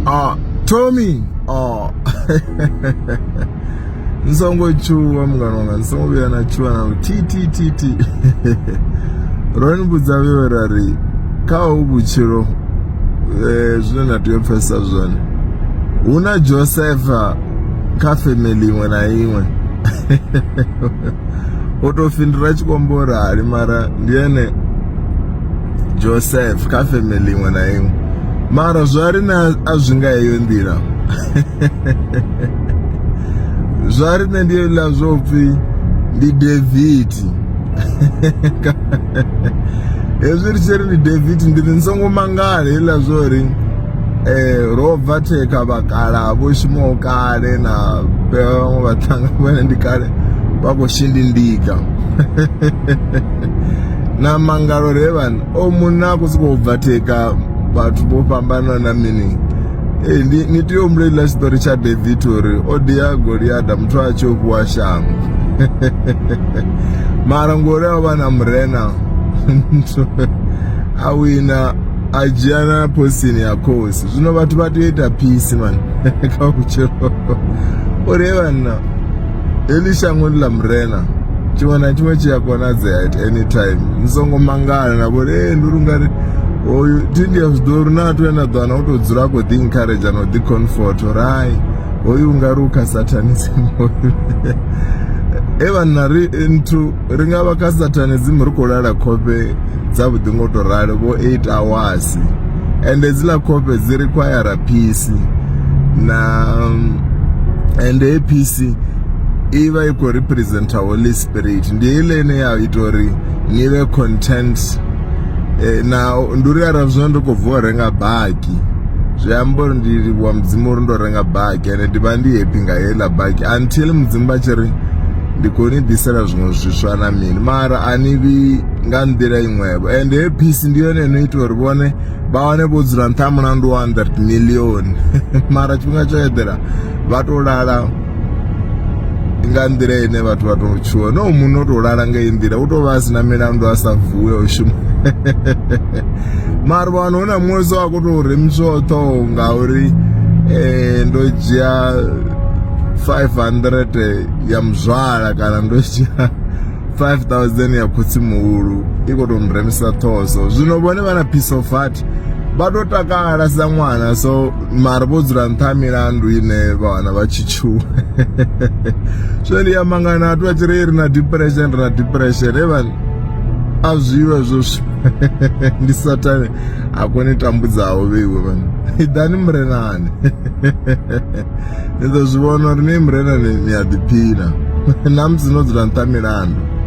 Ah, Tommy. Oh. nsongo chuwa mungano wanga nsongo vhuya na chuwa na ttttt ro ni vhudza vheo ra ri kha ho vhutshilo um zwine na tea u pfesesa zwone hu na josefa kha family iṅwe na iṅwe o tou fhindula tshikombo rali mara ndi ene joseph kha family iṅwe na iṅwe mara zwa ri na a zwi nga heyo nḓila zwa ri nṋe ndi ḽa zwo pfhi ndi david hezwi ri tshi ri ndi david ndi ri ni songo mangala heḽa zwo ri um ro bva thekha vhakala vho shumaho kale na vhaṅwe vhaṱhanga vhone ndi kale vha khou shindindika na mangalo re vhana o munna a khou sokou bva theka vhathu vho fhambana na mini ee ndi ni tea u humbula iḽa tshiṱori tsha david uri o dia goliada muthu a tshi o fhiwa shango mara ngori a vha na murena a wina a dzhia na posini ya khosi zwino vhathu vha tea u ita phisi mani kha vhutshilo uri he vhanna heḽi shango ndi ḽa murena tshiṅwe na tshiṅwe tshi a konadzea at any time ni songo mangala na vhori ee ndi uri ungari oyu tindi ya zwiḓo uri na athu ane a ḓo ana u tou dzula a khou ḓi encourage na u ḓi comfort uri hai hoyu ungari u kha satanism hoyu e vhanna ri nthu Ri nga vha kha Satanism ri khou lala khofhe dza vhuḓi ngo to ralo vho eight hours ende hedziḽa khofhe dzi require phisi na ende he phisi i vha i khou representa holy spirit ndi heiḽa ine ya ita uri ni vhe content eh, na ndi uri arali zwino ndi khou bva u renga baki zwi amba uri ndi livhuwa mudzimu uri ndo renga baki ende ndi vha ndi happy nga heiḽa baki until mudzimu vha tshi ri ndi khou ni ḓisela zwiṅwe zwiswa na mini mara a ni vhi nga nḓila iṅwevho ende he phisi ndi yone ino ita uri vhone vha wane vho dzula nṱha ha mulandu wa 100 million mara tshifhinga tsho eḓela vha to lala nga nḓila ine vhathu vha tou tshuwa no munna o tou lala nga iyi nḓila u tou vha a sina milandu a sa vuwe o shuma mara vhano hu na muṅwe so a khou tou remiswaho ṱhoho ngauri um ndo dzhia 500 ya muzwala kana ndo dzhia 5000 ya khotsi muhulu i khou tou nremisa ṱhoho so zwino vhone vha na piece of heart vha tou takala sa ṅwana so mara vho dzula nṱha ha milandu ine vha wana vha tshi tshuwa zwe ndi amba nga na athu a tshi ri ri na depression ri na depression evani a zwiwe hezwo ndi satane a kone tambudzaho vheiwe vhani iḓani murenani Ni ḓo zwi vhona uri no i murela ni a ḓiphina, na musi no dzula nṱha ha milandu.